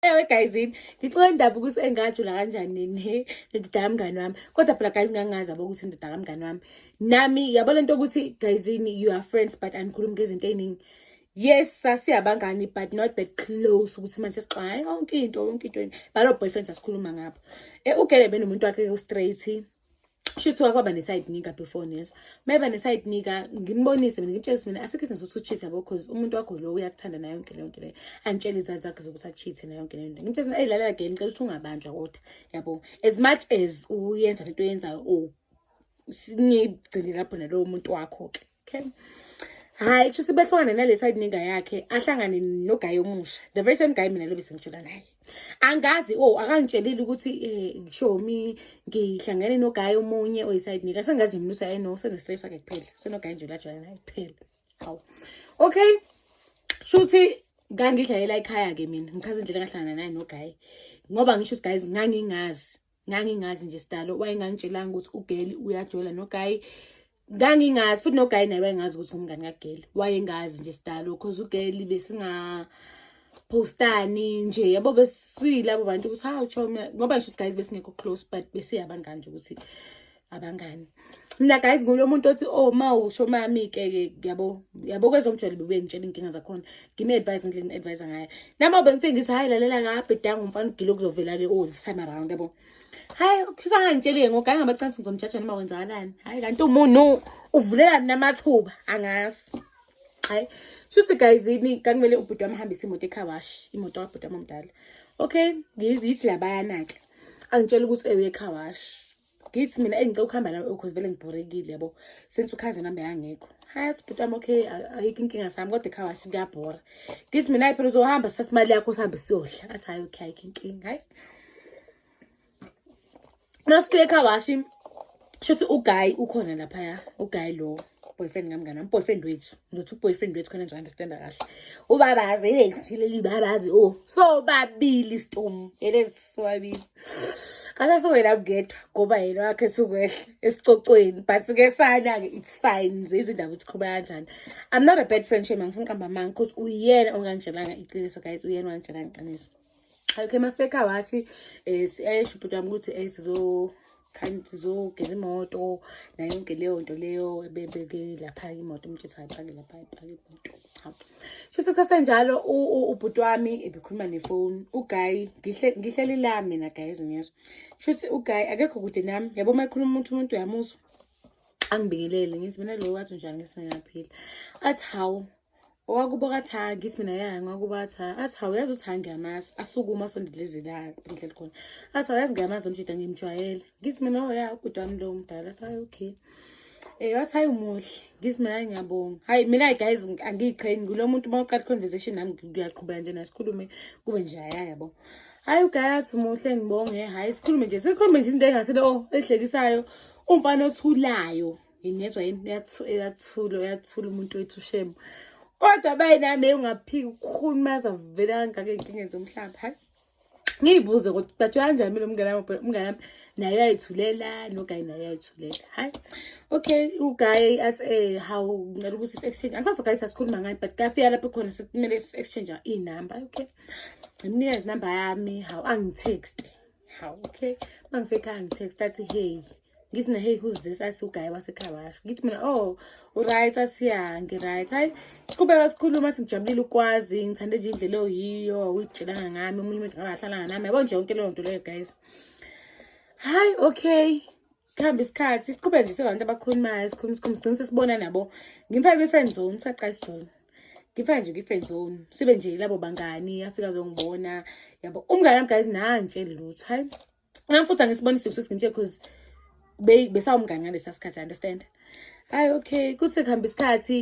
ewe guys yini ngixola indaba ukuthi engajula kanjani ne ndoda kamngani wami kodwa phela guys ngangazi abo ukuthi ndoda kamngani wami nami yabo lento ukuthi guys yini you are friends but angikhulumi ngezinto eziningi yes sasiyabangani but not that close ukuthi manje sixwaye yonke into yonke into balo boyfriends asikhuluma ngabo eh ugele benomuntu wakhe ustraight shuthi wakwaba ne-side nigga before nezwa uma eba ne-side nigga ngimbonise mina ngimtshele mina asikho izinto zokuthi uchithe yabo cause umuntu wakho lo uyakuthanda nayo yonke leyo nto leyo angitshele izazi zakhe zokuthi achithe nayo yonke leyo nto ngimtshele mina eyi lalela game ngicela ukuthi ungabanjwa kodwa yabo as much as uyenza lento oyenzayo o oh, ngigcine lapho nalowo muntu wakho-ke okay hayi kusho behlukane nale side ninga yakhe ahlangane nogayi omusha the very same guy mina lobe sengijula naye angazi o oh, akangitshelile ukuthi um eh, shomi ngihlangene nogayi omunye oyiside ninga sengazi mina ukuthi ayi no senostress wakhe kuphela senogayi nje lajwayela naye kuphela hawu okay shuthi ngangidlalela ikhaya-ke mina ngichaza indlela engahlangana naye nogayi ngoba ngisho ukuthi guys ngangingazi ngangingazi nje sidalo wayengangitshelanga ukuthi ugeli uyajola nogayi ngangingazi futhi nogayi naye wayengazi ukuthi ngumngani kageli wayengazi nje sidalo cause ugeli besinga postani nje yabo besiyilabo bantu ukuthi hawu choma ngoba ngisho guys besingekho close but besiyabangani nje ukuthi abangani mina guys ngulo muntu othi oh ma usho mami ke yabo yabo kwezomjolo bube ngitshela inkinga zakhona give me advice ngile ni advise ngayo nami obengifike ngithi hayi lalela ngaphe danga umfana ugilo kuzovela ke all this time around yabo hayi ukushisa ngangitshele ngoganga ngabacansi ngizomjaja noma kwenzakalani hayi kanti umuntu uvulela namathuba angazi hayi shuthi guys yini kakumele ubhuti wami hambise imoto ecarwash imoto kabhuti wami omdala okay ngiyithi labayana ke angitshela ukuthi ewe ecarwash ngithi mina eyi ngicela ukuhamba nawe because vele ngibhorekile yabo since ukhaze nami yangekho hayi sibhuti wami okay ayikho inkinga sami kodwa ekhaya washo kuyabhora ngithi mina ayi phela uzohamba sithatha imali yakho sihambe siyodla athi hayi okay ayikho inkinga hayi masifika ekhaya washi shuthi uguy ukhona laphaya uguy lowo boyfriend kamngane am boyfriend wethu ngizothi uboyfriend wethu khona nje understanda kahle ubabazi ilexileli babazi o oh, so babili stom elesiswabili kasa siwena mngedwa ngoba yena wakhe sukwehla esicocweni but ke sana-ke it's fine nje izindaba ukuthi khuluma kanjani i'm not a bad friend shame angifuni qamba manga ukuthi uyena onganitshelanga iqiniso guys uyena onganitshelanga iqiniso okay masibeka washi eh siyayisho ubhuti wami ukuthi eh sizo khani sizogeza imoto nayo yonke leyo nto leyo ebebeke lapha imoto umtshisa ayipake lapha ayipake imoto cha shisa kusase njalo ubhuti wami ebekhuluma nefoni uguy ngihle ngihleli la mina guys ngiyezwa shuthi uguy akekho kude nami yabo uma ekhuluma umuntu umuntu uyamuzwa angibingelele ngithi mina lo wathi njani ngisingaphila athi hawu owakubo kathangi ithi mina yaya ngakubo athi athi hawuyazi uthi angiyamazi asukuma asondelezi la ngidlela khona athi hawuyazi ngiyamazi umjida ngimjwayele ngithi mina oya oh, ubhuti wami lo mdala athi hayi okay Eh wathi hayi umuhle ngithi mina ngiyabonga hayi mina guys angiyiqheni kulo muntu uma uqala conversation nami ngiyaqhubeka nje nasikhulume kube nje yabo hayi ugayathi umuhle ngibonge hayi sikhulume nje sikhulume nje izinto engasile oh ehlekisayo umfana othulayo ngezwa yini uyathula uyathula umuntu wethu shemu kodwa bayi nami ungaphiki ukukhulu maze avele kangaka ey'nkingeni zomhlaba hayi ngiyibuze kodwa but uyanjani mina umngane wami umngane wami naye uyayithulela nogayi naye uyayithulela hayi okay ugayi athi um eh, hawu ngicela ukuthi si-exchange angisazi ugayi sasikhuluma ngani but kafika lapho khona sekumele si-exchange iy'namba okay ngimnika izinamba yami hawu angithexte hawu okay uma ngifika angithexte athi heyi ngithi mina hey who's this athi ugaye wasekhaya washo ngithi mina oh uright athi ya ngiright hayi siqhubeka sikhuluma athi ngijabulile ukwazi ngithande nje indlela oyiyo uyitshelanga ngami omunye umuntu ngabahlala nami yabo nje yonke leyo nto leyo guys hayi okay kuhamba isikhathi siqhubeke nje sebantu abakhulumayo sikhuluma sikhuluma sigcine sesibona nabo ngimfake kwi-friend zone saqala sijoyina ngifake nje kwi-friend zone sibe nje labo bangani afika zongibona yabo umngane wami guys nantsheli lutho hayi Ngam futhi angisibonisi usis ngimtshela because besawumngane ngalesa sikhathi understand. Hayi okay kuthi kuhamba isikhathi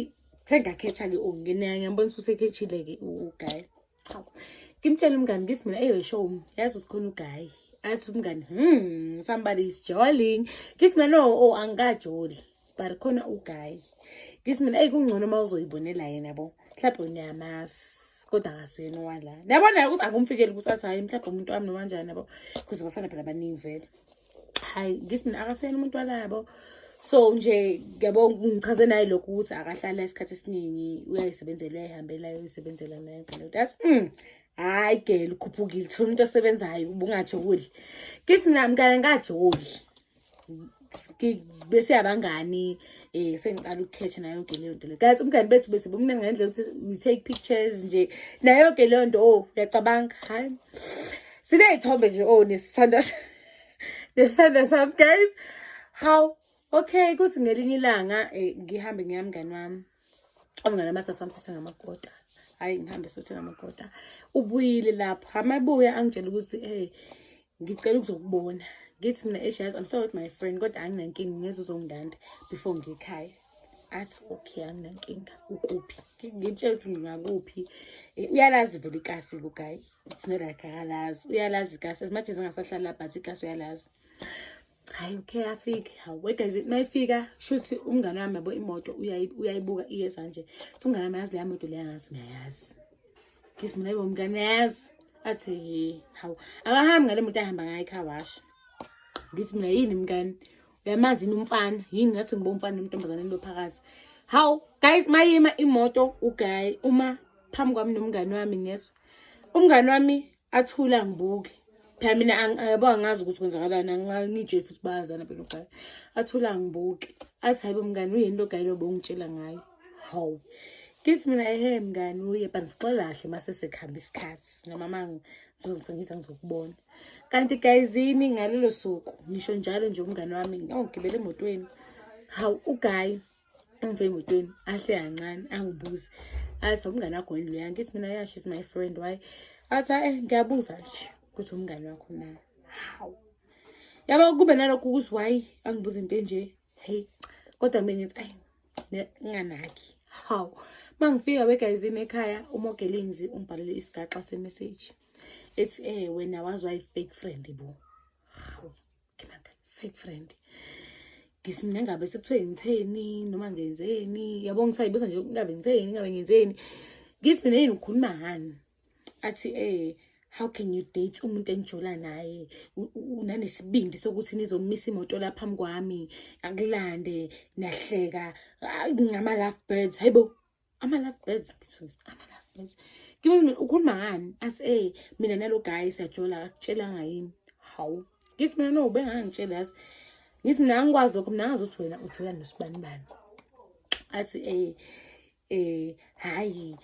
sengakhetha ke ungene ngiyambona ukuthi usekhethile ke uguy. Cha. Ngimtshela umngane ngithi mina eyo show yazi usikhona uguy. Athi umngane hmm somebody is jolling. Ngithi mina no oh angikajoli. but khona ugayi ngithi mina eyi kungcono uma uzoyibonela yena bo mhlawumbe niyamazi kodwa ngasuyena owala niyabona ukuthi akumfikeli ukuthi athi hayi mhlawumbe umuntu wami noma njani yabo because bafana phela baningi vele hayi ngithi mina akasuyena umuntu walabo so nje ngiyabo ngichaze naye lokhu ukuthi akahlala isikhathi esiningi uyayisebenzela uyayihambela uyayisebenzela naye phela that's mm hayi gele ukhuphukile thola umuntu osebenzayo ubungathi ukudla ngithi mina mkale ngajoli bese abangani eh sengiqala ukukhetha nayo yonke leyo nto le guys umngani bethu bese bumnene ngendlela ukuthi we take pictures nje nayo yonke leyo nto oh uyacabanga hayi siney'thombe nje oh nesithanda nesithanda sami guys how okay kuthi ngelinye ilanga eh, ngihambe ngiyamngani wami omngane amathi asamsithe ngamakota hhayi ngihambe sothe ngamakota ubuyile lapho hamabuya angitshela ukuthi ey ngicela ukuzokubona ngithi mina eshazi i'm sorry with my friend kodwa anginankinga ngeze uzongidanda before ngikhaya athi okay anginankinga ukuphi ngimtshela ukuthi ngingakuphi eh, uyalazi vele ikasi lugayi it's not like akalazi uyalazi ikasi as much as engasahlala but ikasi uyalazi hayi ukhe afike hawu wait guys mayifika shuthi umngane wami yabo imoto uyayibuka iyeza nje so umngane wami yazi leya moto leya ngazi ngiyayazi ngisi mina yibo mngane yazi athi hawu akahambi ngale moto ahamba ngayo ikhawashi ngithi mina yini mngane uyamazi yini umfana yini ngathi ngibo umfana nomntombazane lo phakathi hawu guys mayima imoto ugayi uma phambi kwami nomngane wami ngeswa umngane wami athula ngibuke phela mina yabo angazi ukuthi kwenzakalani angangitsheli futhi bayazana phela ogaya athula ngibuke athi hayibo mngani uyini lo gayilo bongitshela ngayo hawu ngithi mina ehe mngani uye but ngixola kahle uma sesekuhamba isikhathi noma ma ngizongisengiza ngizokubona kanti gayizini ngalelo suku ngisho njalo nje umngani wami ngawugibela emotweni hawu ugayi angifike emotweni ahle kancane angibuze athi umngane wakho yini loya ngithi mina yeah she's my friend why athi hayi eh, ngiyabuza nje ukuthi umngane wakho na hawu yaba kube nalokho ukuthi why angibuze into enje hey kodwa mina ngithi ayi nginganaki hawu uma ngifika wegayizini ekhaya umogelinzi ungibhalele isigaxa semeseji ethi um wena wazi wayi-fake friend bo nginanda fake friend ngithi mina ngabe sekuthiwe ngitheni noma ngenzeni yabo ngisayibuza nje ngabe ngitheni ngabe ngenzeni ngithi mina yini ngikhuluma ngani athi eh how can you date umuntu engijola naye unanesibindi sokuthi nizomisa imoto la phambi kwami akulande nahleka ngama-love birds hayibo ama-love birds ama-love birds ukhuluma ngani athi ey mina nalo guy siyajola akakutshelanga yini hawu ngithi mina no ubengangitshela yazi ngithi mina angikwazi lokho mina ngazi ukuthi wena ujola nosibanibani athi ey eh hayi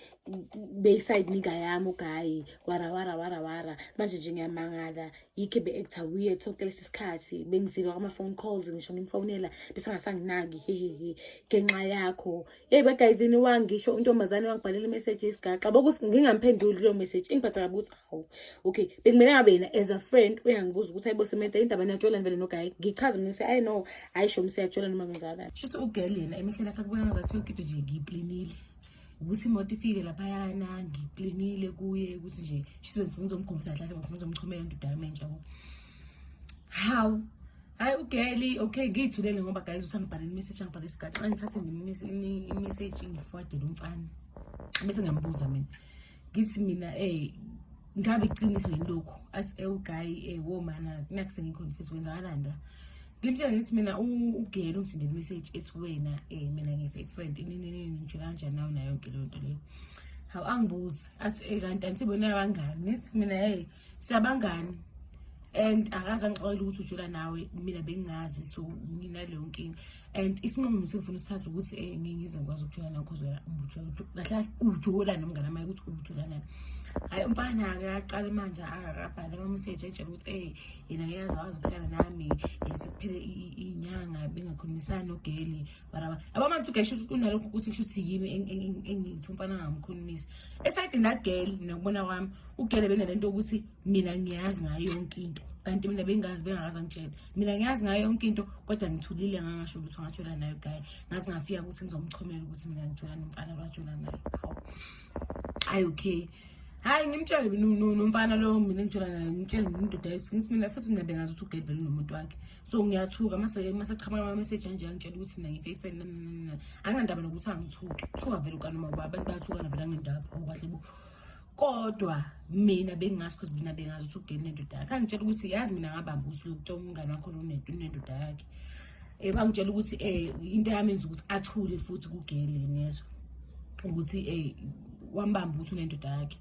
beyside nika yami ugayi wara wara wara wara manje nje ngiyamangala yikhe be-actor weird sonke lesi sikhathi bengiziba kwama-phone calls ngisho ngimfonela besengasanginaki hehehe ngenxa yakho Hey badayizini wangisho untombazane wangibhalela imeseji yesigaxa bokuthi ngingamphenduli leyo meseji ingiphatha kabi ukuthi hawu okay bekumele ngabe yena as a friend uyangibuza ukuthi ayibo sementa indaba niyajolani vele nogayi ngichaze mina ukuthi ayi no hayi sho msiyajola noma kunjalo shuthi ugirl yena emehleni akhe kubona ngazathi yonke into nje ngiyiplinile ukuthi imoto ifike laphayana ngiplinile kuye ukuthi nje shise ngifuna uzomgumisa kahle ngifuna uzomchomela into dame nje yabo hawu hayi ugeli okay ngiyithulele ngoba guys uthi angibhalele imessage angibhalele isigaxa ngithathe imessage ngifuade lo mfana bese ngiyambuza mina ngithi mina ey eh, ngabe iqiniso yini lokhu athi ewugayi eh, ey eh, wo mana kunaku sengiconfuse kwenzakalani la ngimtshela ngithi mina ugeli ungithinde imessage ethi wena um mina ngi-fake friend ininini ngisho kanjani nawo nayo yonke leyo nto leyo hawu angibuzi athi kanti anti bona abangani ngithi mina hey siyabangani and akaze angixolela ukuthi ujula nawe mina bengingazi so nginaleyo nkinga and isinqumo sengifuna usithatha ukuthi um eh, ngingize ngikwazi ukujula nawe cause kahle ujula nomngane amaye ukuthi ubujula nani hhayi umfana akaqale manje akabhale amameseji etshela ukuthi ey eh, yena ngiyazi wazi ukuhlala nami eh, sekuphele iy'nyanga bengakhulumisani nogeli baraba yabo manje ugesho ukuthi kunalokho ukuthi kusho ukuthi yimi engithi umfana angamkhulumisi esayidini la girl mina kubona kwami ugele benalento yokuthi mina ngiyazi ngayo yonke into kanti mina bengazi bengakazi angitshela mina ngiyazi ngayo yonke into kodwa ngithulile ngangasho ukuthi ungatshola nayo guy ngaze ngafika ukuthi ngizomchomela ukuthi mina ngitshola nomfana lwatshola nayo hayi okay hayi ngimtshele nomfana lowo mina engitshola nayo ngimtshele ngindoda ngithi mina futhi mina bengazi ukuthi ugele vele nomuntu wakhe so ngiyathuka mase mase qhamuka ama message anje angitshela ukuthi mina ngi fake friend anginandaba nokuthi angithuki kuthiwa vele ukana mama abantu bayathukana vele angendaba ngokahle bo kodwa mina bengingazi because mina bengazi ukuthi ugeni nendoda yakhe angitshela ukuthi yazi mina ngabamba ukuthi lokuthiwa umngane wakho lonento nendoda yakhe um bangitshela ukuthi um into yamenza ukuthi athule futhi kugele nezwa ukuthi um wambamba ukuthi unendoda yakhe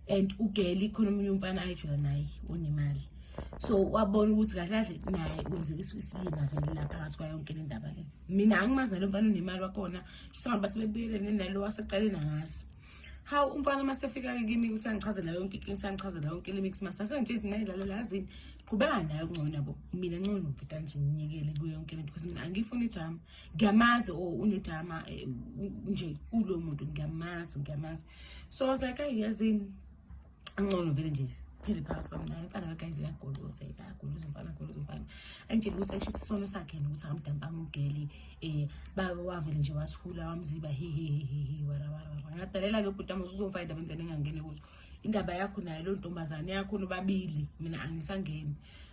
and ugeli khona omunye umfana ayijula naye onemali so wabona ukuthi kahle kahle naye wenzeka isilima vele la phakathi kwayo yonke le ndaba le mina angimazi nalo mfana unemali wakhona sihamba sebebuyelene nalo waseqaleni angazi hawu umfana uma sefika kimi usangichazela yonke inkinga usangichazela yonke le mix master sengithithi naye lalela yazini qhubeka naye okungcono nabo mina ncono ngibhida nje nginyekele kuyo yonke lento because mina angiyifuni idrama ngiyamazi o oh, unedrama eh, nje kulo muntu ngiyamazi ngiyamazi so i was like ayi yazini angcono vele nje phele phakathi kwami naye mfana wekayize uyagoloza uyagoloza umfana agoloza umfana angitshela ukuthi akusho ukuthi isono sakhe yena ukuthi angamdambi angumgeli um baba wavele nje wasihula wamziba hehehehehe warawarawa ngadalela ke ubhuti amuze uzomfa indaba endlela engangene kuzo indaba yakho nayo leyo ntombazane yakho nobabili mina angisangeni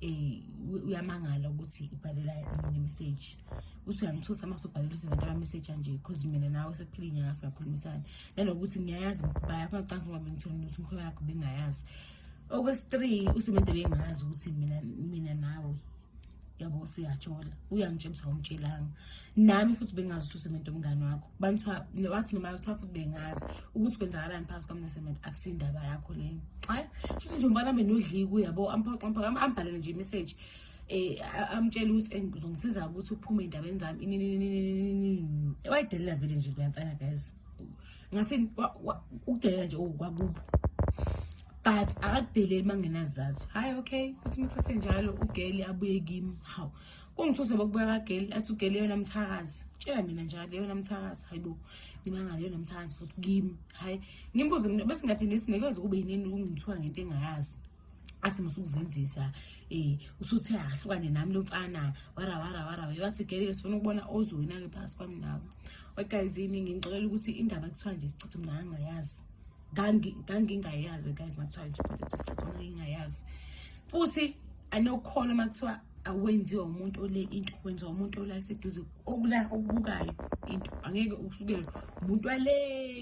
eh uyamangala ukuthi ibhalela yini message uthi uyangithusa uma usubhalela uze nantaba message anje because mina nawe sekuphila inyanga singakhulumisana nanokuthi ngiyayazi imikhuba yakho ngacanga ngoba ngithole ukuthi imikhuba yakho bengayazi okwesi-three usemente bengazi ukuthi mina mina nawe yabo siyajola uyangitshela ukuthi awumtshelanga nami futhi bengazi ukuthi usemente umngane wakho banthiwa wathi noma kuthiwa futhi bengazi ukuthi kwenzakalani phakathi kwami nesemente akusiyindaba yakho leyo hayi futhi nje umbana benodliku yabo ambhalele nje imessage eh amtshela ukuthi engizongisiza ukuthi uphume endabeni zami ininini wayidelela vele nje leyamfana guys ngase ukudelela nje okwakubo but akakudeleli mangenazathu hayi okay futhi muthasenjalo ugeli abuye kimi hawu kungithuse bokubuya kageli athi ugeli yona mthakazi tshela mina njalo yona mthakazi hayi bo ngimangale yona mthakazi futhi kimi hayi ngimbuze mina bese ngiyaphinde sinikeza kube yinini ukungithiwa ngento engayazi athi musukuzenzisa eh usuthe ahlukane nami lo mfana wara wara wara wathi gele sifuna ukubona ozwina ke phasi kwami nawe okay zini ngicela ukuthi indaba kuthiwa nje sichithe mina angayazi ngangingayazi guys makuthiwa nje kodwa isikhathi ngangingayazi futhi anokholo makuthiwa awenziwa umuntu ole into wenziwa umuntu ola seduze okula okubukayo into angeke usukele umuntu wale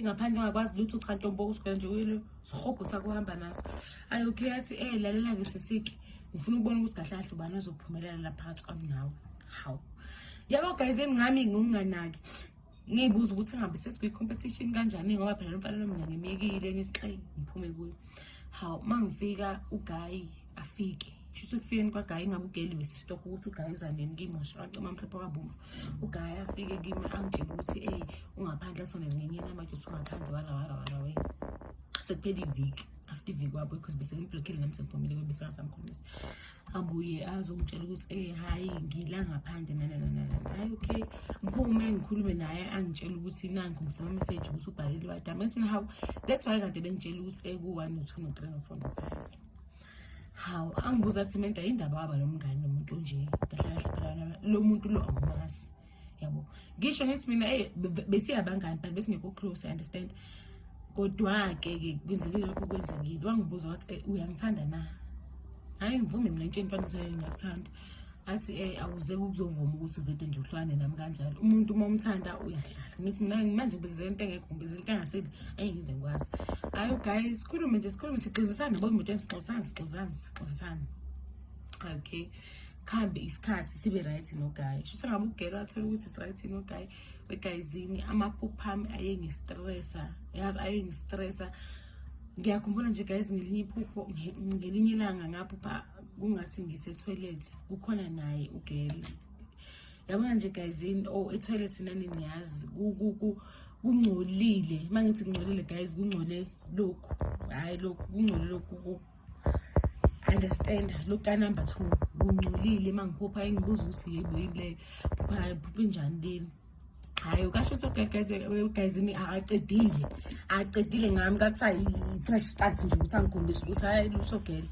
ngaphandle ungakwazi lutho cha ntombo usuke nje uyilo sihogo sakuhamba naso ayi okay athi eh lalela ke sisike ngifuna ukubona ukuthi kahle kahle ubani ozophumelela la phakathi kwami nawe hawu yabo guys engami nginganaki ngiyibuza ukuthi ngabe sesikwi-competition kanjani ngoba phela lomfanelo mina ngimyekile ngisixayi ngiphume kuyo hawu uma ngifika ugayi afike shuthi ekufikeni kwagayi ngabe ugeli besistokho ukuthi ugayi uzanini kimi ngashaqacima amhlophe kwabomvu ugayi afike kimi angitshela ukuthi eyi ungaphandle kufanele ngenye namaje ukuthi ungaphandle warawarawarawey sekuphela iviki after iviki wabo because besengiblokile nami sengiphumile kwebesingasamkhulumisa abuye azongitshela ukuthi ey eh, hhayi ngila ngaphandle nanananana hhayi okay ngiphume ngikhulume naye angitshela ukuthi nanku ngisama message ukuthi ubhalele wadama ethi hawu that's why kade bengitshela ukuthi eku-one eh, no-two no-three no-four no-five hawu angibuza athi menta yindaba waba lo mngane nomuntu onje kahle kahle phela lo muntu lo awumazi yabo ngisho ngithi mina hey besiyabangani but besingekho close i understand kodwa-ke ke kwenzeke lokho kwenzekile wangibuza wathi eh, uyangithanda na hhayi ngivume mina into entwana ukuthi ngiyakuthanda athi um awuze kukuzovuma ukuthi uvede nje uhlwane nami kanjalo umuntu uma umthanda uyahlala ngithi mina manje ubekizela into engekho ngibekizela into engaseli ayi ngize ngikwazi ayo guys sikhulume nje sikhulume sixizisane bo emotweni sixizisane sixizisane sixizisane okay kuhambe isikhathi sibe right nogayi shuthi ngabe ugelo athole ukuthi is-right nogayi wegayizini amaphupha ami ayengistressa yazi ayengistressa ngiyakhumbula nje guys ngelinye iphupho ngelinye ilanga ngaphupha kungathi ngise-toilet kukhona naye ugelo yabona nje guyzini o oh, etoilet nani niyazi kungcolile uma ngithi kungcolile guys kungcole lokhu hhayi lokhu kungcole lokhu understand look ka number two kungcolile uma ngiphupha engibuza ukuthi yebo yini leyo phupha phupha injani leni hayi ukasho usegayizini akaqedile akaqedile ngami kakusayi-fresh start nje ukuthi angikhombisa ukuthi hayi lutho gele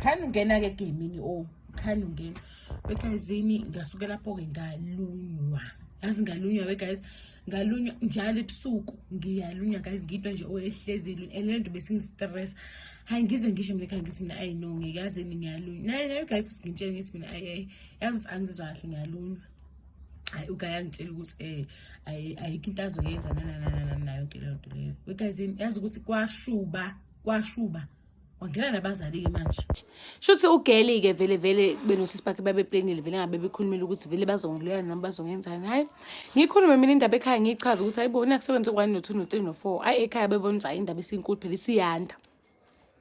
khani ungena-ke egemini o oh, khani ungena wegayizini ngasuke lapho-ke ngalunywa yazi ngalunywa wegayizi ngalunywa njalo ebusuku ngiyalunywa guys ngiyinto nje oyehlezi ilunywa and lento besingistress hayi ngize ngisho mina khani ngithi mina ayi no ngikaze ni ngiyalunywa naye naye ugayi futhi ngimtshele ngithi mina ayi ayi yazi ukuthi angizizwa kahle ngiyalunywa hayi ugayi angitshela ukuthi um ayikho into azoyenza nanananana nayo ke leyo nto leyo wegazini yazi ukuthi kwashuba kwashuba wangena nabazali-ke manje shuthi ugeli-ke vele vele benosisi bakhe babeplenile vele ngabe bekhulumile ukuthi vele bazongilela noma bazongenzani hhayi ngikhulume mina indaba ekhaya ngiyichaza ukuthi hayibo nakusebenza okwane no-two no-three no-four hhayi ekhaya bebona ukuthi hhayi indaba isinkulu phela isiyanda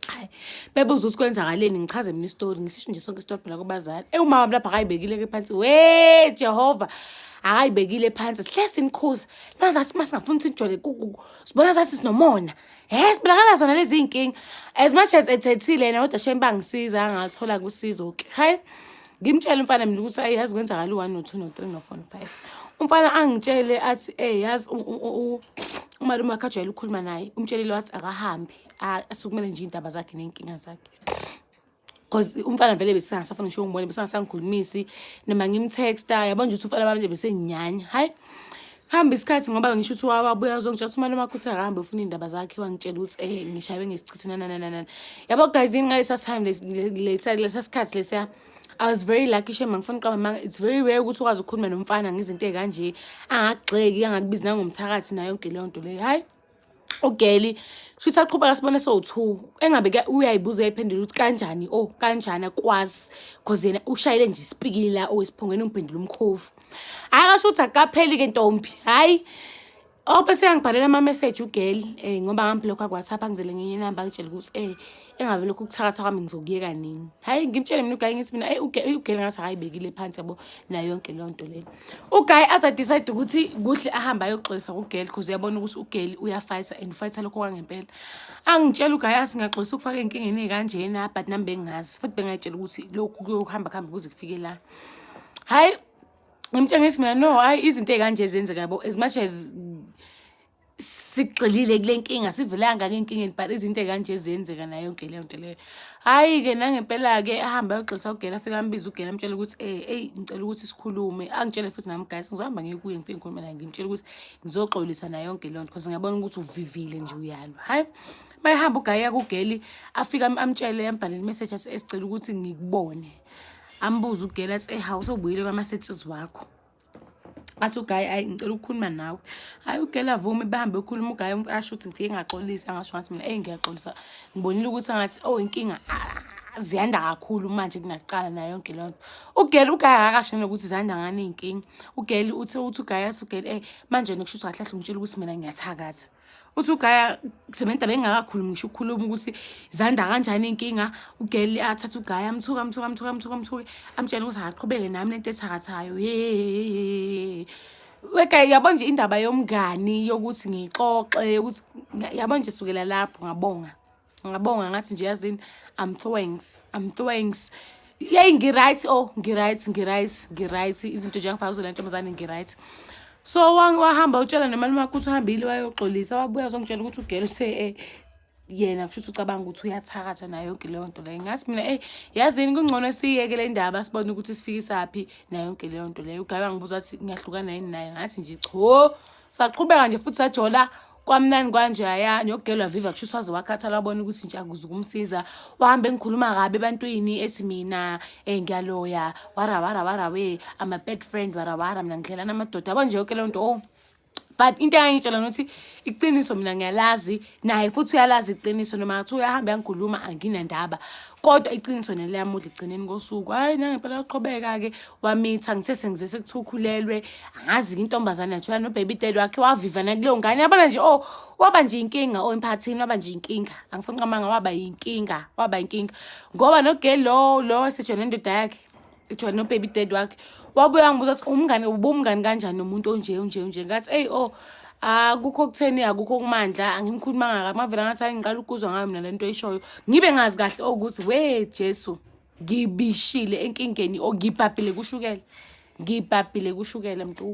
hayi bebuza ukuthi kwenzakaleni ngichaze mina isitori ngisisho nje sonke isitori phela kubazali ewumama mlapha akayibekile-ke phansi we jehova akayibekile phansi sihle sinikhuza nazathi uma singafuni ukuthi sijole sibona zathi sinomona si Hey sibulakala zona lezi inkinga. As much as ethethile yena kodwa shame bangisiza angathola kusizo ke. Hayi ngimtshela umfana mina ukuthi ayi yazi kwenzakala u1 no2 no3 no4 no5. Umfana angitshele athi eh yazi umalume wakhe ajwayele ukukhuluma naye umtshelile wathi akahambi asukumele nje indaba zakhe nenkinga zakhe. Cause umfana vele besingasafuna ngisho umbone besingasangikhulumisi noma ngimtexta yabo nje ukuthi umfana bami nje besenginyanya hayi hamba isikhathi ngoba ngisho ukuthi wawabuya uzongitshela ukuthi umane umakhutha akahambe ufuna iy'ndaba zakhe wangitshela ukuthi um eh, ngishawe ngesichitho nanananana yabo guys yini ngalesa time lesa sikhathi lesiya I was very lucky shema ngifuna uqaba manga it's very rare ukuthi ukwazi ukukhuluma nomfana ngezinto ey'kanje angakugxeki angakubizi nangomthakathi nayo yonke leyo nto leyo hhayi ugeli shuthi aqhubeka sibone sowu-two engabe uyayibuza uyayiphendula ukuthi kanjani o oh, kanjani akwazi cause yena ushayele nje isipikili la owesiphongweni umphendula umkhovu hhayi kasho ukuthi akukapheli-ke ntombi hhayi ope oh, seyangibhalela ama-message ugeli um eh, ngoba ngambi lokho akuwhatsapp angizele ngenye inamba angitshela ukuthi um eh, engabe lokhu kuthakatha kwami ngizokuyeka nini hhayi ngimtshele mina ugayi ngithi mina eyi ugele ngathi akayibekile phansi yabo nayo yonke leyo nto leyo ugayi aze adicide ukuthi kuhle ahambe ayoxolisa kugeli because uyabona ukuthi ugeli uyafayitha and ufayitha lokho kwangempela angitshela ugayi athi ngiyaxolisa ukufaka ey'nkingeni ey'kanjena but nami bengingazi futhi bengayitshela ukuthi lokhu kuyohamba kuhambe kuze kufike la hhayi ngimtshengisi mina no hhayi izinto ey'kanje zenzeka yabo as much as sigxilile kule nkinga sivelanga ke enkingeni but izinto ey'kanje ziyenzeka nayo yonke leyo nto leyo hhayi-ke nangempela-ke ahambe ayogxilisa ugela afike ambiza ugela amtshela ukuthi um eyi ngicela ukuthi sikhulume angitshele futhi nami guys ngizohamba ngikuye ngifike ngikhulume naye ngimtshela ukuthi ngizoxolisa nayo yonke leyo nto because ngiyabona ukuthi uvivile nje uyalwa hhayi uma ehamba ugaya kugeli afike amtshele ambhalele imeseji esicela ukuthi ngikubone ambuze ugela athi ehawu sobuyile kwamasethizi wakho athi ugayi ayi ngicela ukukhuluma nawe hayi ugela vumi bahambe ukhuluma ugayi asho ukuthi ngifike ngaxolisa angasho ngathi mina eyi ngiyaxolisa ngibonile ukuthi angathi oh inkinga ziyanda kakhulu manje kungaqala nayo yonke leyo nto ugeli ugayi akakasho nokuthi ziyanda ngani iy'nkinga ugeli uthe uthi ugayi athi ugeli eyi manje nokusho ukuthi kahle kahle ungitshela ukuthi mina ngiyathakatha uthi ugaya sementa bengakakhulumi ngisho ukukhuluma ukuthi zanda kanjani inkinga ugeli athathe ugaya amthuka amthuka amthuka amthuka amthuke amtshela ukuthi akaqhubeke nami lento ethakathayo yeyeyeyeye weka yabo nje indaba yomngani yokuthi ngixoxe ukuthi yabo nje sukela lapho ngabonga ngabonga ngathi nje yazini i'm thanks i'm thanks yeyi ngiright o oh, ngiright ngiright ngiright izinto nje angifaka kuzona ntombazane ngiright so wahamba utshela nemali makuthi uhambile wayoxolisa wabuya azongitshela ukuthi ugele uthe um eh, yena kusho ukuthi ucabanga ukuthi uyathakatha nayo yonke leyo nto leyo ngathi mina eyi yazini kungcono siyeke le ndaba sibone ukuthi sifikisaphi nayo yonke leyo nto leyo ugabe angibuza ukuthi ngiyahlukana yini naye ngathi nje cho saqhubeka nje futhi sajola kwamnani kwanjaya nyokugelwa viva kusho uswaze wakhathala wabona ukuthi nje akuze ukumsiza wahambe engikhuluma kabi ebantwini ethi mina um ngiyaloya warawara warawe ama bad friend warawara mina ngidlelana amadoda yabo nje yoke leyo nto o oh. but into engangitshela nokuthi iqiniso mina ngiyalazi naye futhi uyalazi iqiniso noma ngathi uyahamba yangikhuluma anginandaba kodwa iqiniso neli yamudla ekugcineni kosuku hayi nangempela uqhubeka-ke wamitha ngithe sengizwe sekuthiwa ukhulelwe angazi-ke intombazane yathola nobaby dad wakhe wavivana kuleyo ngane yabona nje o oh, waba nje inkinga o oh, emphakathini waba nje inkinga angifuni qamanga waba yinkinga waba yinkinga ngoba nogeli lo lo esejona indoda yakhe kuthiwa nobaby dad wakhe wabuye wangibuza ukuthi umngane ubumngani kanjani nomuntu onje onje onje ngathi eyi o oh, akukho okutheni akukho kumandla angimkhulumanga kabi mavele ngathi hayi ngiqala ukuzwa ngayo mina le nto eyishoyo ngibe ngazi kahle okuthi we jesu ngibishile enkingeni or ngibhabhile kushukela ngibhabhile kushukela mntu